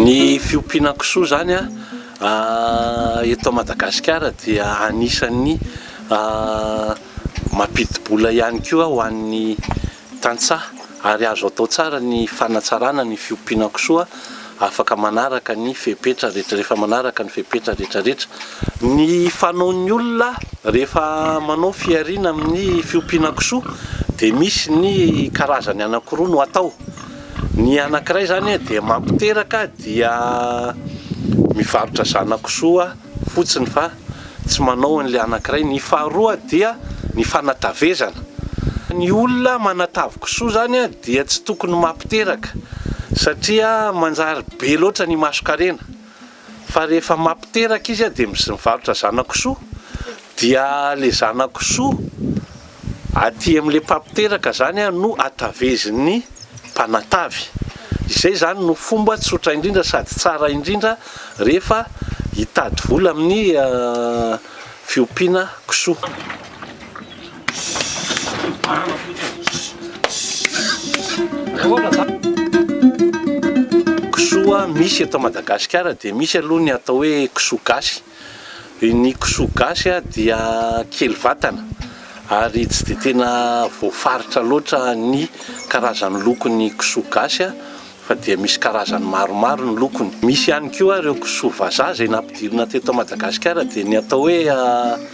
Ny fiompiana kisoa izany eto Madagasikara dia anisan'ny mampidi-bola ihany koa ho an'ny tantsaha ary azo atao tsara ny fanatsarana ny fiompiana kisoa afaka manaraka ny fepetra rehetra rehefa manaraka ny fepetra rehetra rehetra ny fanaon'ny olona rehefa manao fihariana amin'ny fiompiana kisoa dia misy ny karazany anankiroa no atao ny anankiray izany dia mampiteraka dia mivarotra zana-kisoa fotsiny fa tsy manao an'ilay anankiray, ny faharoa dia ny fanatavezana, ny olona manatavy kisoa zany dia tsy tokony mampiteraka satria manjary be loatra ny masonkarena fa rehefa mampiteraka izy dia mivarotra zana-kisoa dia le zana-kisoa Aty amin'ilay mpampiteraka izany no atavezin'ny mpanatavy. Izay izany no fomba tsotra indrindra sady tsara indrindra rehefa hitady vola amin'ny fiompiana kisoa. Kisoa misy eto Madagasikara dia misy aloha ny atao hoe kisoa gasy. Ny kisoa gasy dia kely vatana ary tsy dia tena voafaritra loatra ny karazan'ny lokon'ny kisoa gasy fa dia misy karazany maromaro ny lokony. Misy ihany koa ireo kisoa vazaha izay nampidirina teto Madagasikara dia ny atao hoe.